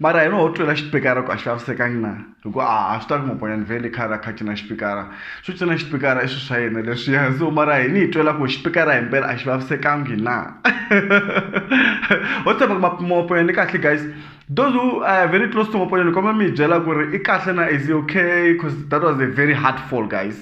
mara hino ho twela xipikara ku a xi vavisekangi na hi ku a swi ta ku mabonyani vhele khale a kha cina xipikara swi cina xipikara i swi swa yena leswiya so mara hi ni hi twela ku xipikara hi mpela a xi vavisekangi na ho tshemba ku mabonyani i kahle guys those who are very close to mabonyani ni kombela mi hi byela ku ri i kahle na is okay cause that was a very hard fall guys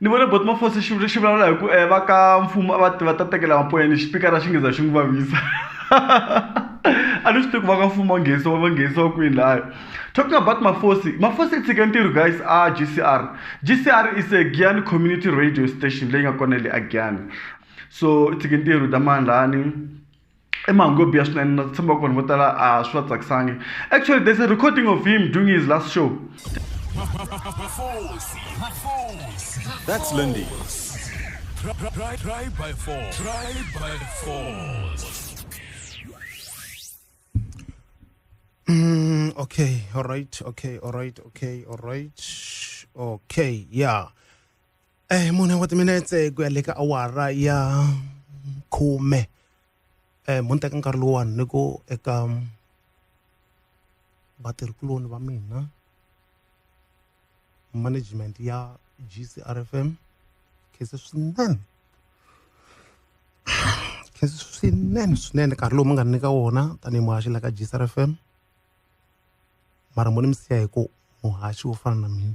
ni vone bot mafosi xi xi vulavula hi ku um va ka mfumo a va va ta tekela mapoyeni xipikara xi ngeza xi n'wi vavisa a ni swi tivi ku va ka mfumo wa nghenisa wa va nghenisa wa kwini lahaya talking about mafosi mafosi i tshike ntirho guys a g c r g c r is a giyani community radio station leyi nga kona le a giyani so i tshike ntirho ta mandlani i mahungu yo biha swinene na tshemba ku vanhu vo tala a swi va tsakisangi actually there's a recording of him doing his last show That's Lindy. Try, try, try by four. Try by four. Mm, okay, all right, okay, all right, okay, all right, okay, yeah. Eh, mune wa timinetse ku ya le ka awara ya khume eh mo ni teka nkarhi lowuwani ni ku eka vatirhikuloni va mina management ya GCRFM khese swinene khese swinene swinene nkarhi lowu mi nga nyika wona tanihi muhaxi la ka GCRFM mara mo ni mi siya hi ku muhaxi wo fana na mina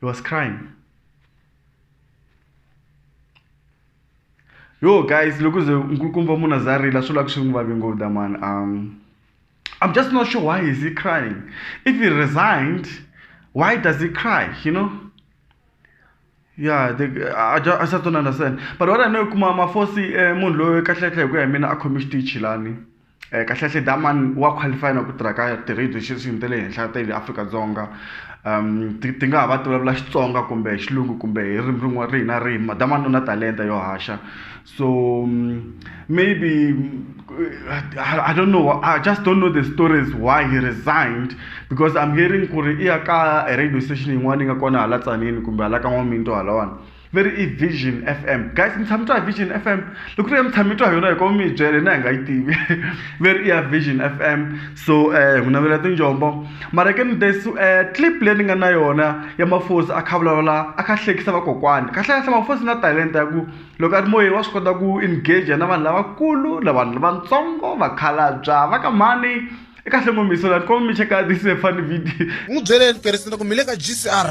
He was crying. Yo guys, look at the Nkulukumba Muna Zari, la sula kushunguva bingo da man. Um I'm just not sure why is he crying. If he resigned, why does he cry, you know? Yeah, they, I, just, I just don't understand. But what I know, kuma mafosi eh, munhu loyi kahle kahle hi ku ya hi mina a khomi xitichi lani. Eh, kahlekahle daman wa qualify na ku tirha ka ti-radio station ta le henhla ta le afrika-dzonga um ti, ti nga ha va ti vulavula xitsonga kumbe hi xilungu kumbe hi ririmi rin'wana rihi na rihi madaman u na talenta yo haxa so um, maybe I, I don't know i just don't know the stories why he resigned because i'm hearing ku ri i ya ka radio station yin'wana yi nga kona hala tsanini kumbe hala ka n'waminto halawani veri i vision f m guys mi tshami twa hi vision f m loko ri ya mi tshami twa hi yona hi koma mi yi byele na hi nga yi tivi veri i ya vision f m so um eh, ku navela tinjombo mara ke ni desi um eh, clip leyi ni nga na yona ya mafosi a kha vulavula a kha hlekisa vakokwani kahlekahle mafosi na talenta ya ku loko a ri moyeni wa swi kota ku engage na vanhu lavakulu na vanhu lavatsongo vakhalabya va ka mhani i kahle ngomiso lani koma mi cheka this funny video n'wi byeleni peresenta ku mi le ka gcr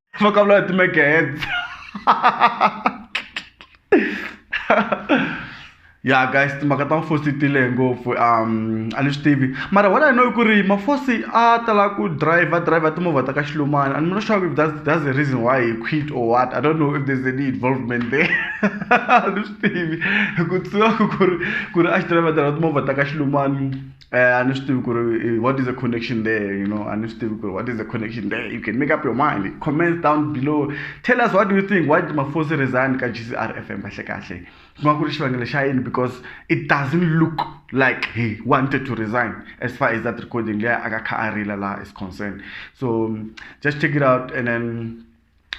va ka vula hi ti-megahertz ya guys timhaka ta mafosi ti lehe ngopfu um a ni swi tivi mara what i know i ku ri mafosi a tala ku driver driver timovha ta ka xilumani and not sure if that's, that's the reason why he quit or what i don't know if there's any involvement there a ni swi tivi ku tsiwa ku ri ku ri a xi driver driver timovha ta ka xilumani eh, a ni swi tivi ku ri what is the connection there you know a ni swi tivi ku ri what is the connection there you can make up your mind comments down below tell us what do you think why did mafosi resign ka g c r f m kahle kahle ku nga ku ri xivangelo xa yini because it doesn't look like he wanted to resign as far as that recording leyi a ka kha a rila laha is concerned so just check it out and then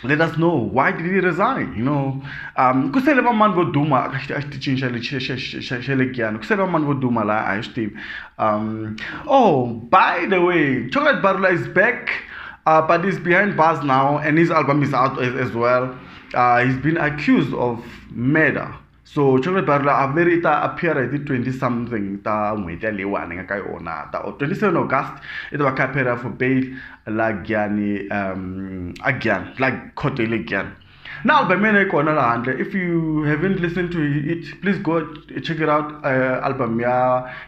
let us know why did he resign you know um ku sele vamanni vo duma a xitichini xa le xa le giyani ku sele vamanni vo duma laha a hi swi tivi um oh by the way chocolate barula is back uh, but he's behind bars now and his album is out as, as well uh, he's been accused of murder so chocolate bar la a veri ta appear hi ti 20 something ta n'hweti ya leyiwani nga ka yona ta 27 august i ta va kha appear for bail la gyani um a gyani la court le gyani na album yena yi kona laha handle if you haven't listened to it please go check it out uh, album ya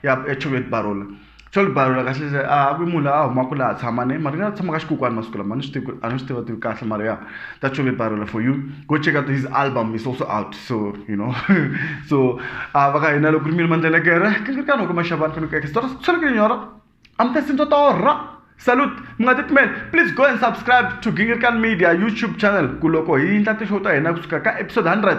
ya chocolate barola Swa ni balula kahle kahle a ku munhu la a humaka laha a tshama ni mara ni nga tshama ka xikukwana masiku lama a ni swi tivi ku a ni swi tiva tivi kahle mara ya that should be balula for you go check out his album is also out so you know so a va ka hina loko ri mina mandlelekere ka ni ri ka loko maxavana faneke eka switori swi fanekele nyora I'm testing to torha salute mi nga titimeli please go and subscribe to gingirikani media youtube channel ku loko hi endla ti-show ta hina kusuka ka episode hundred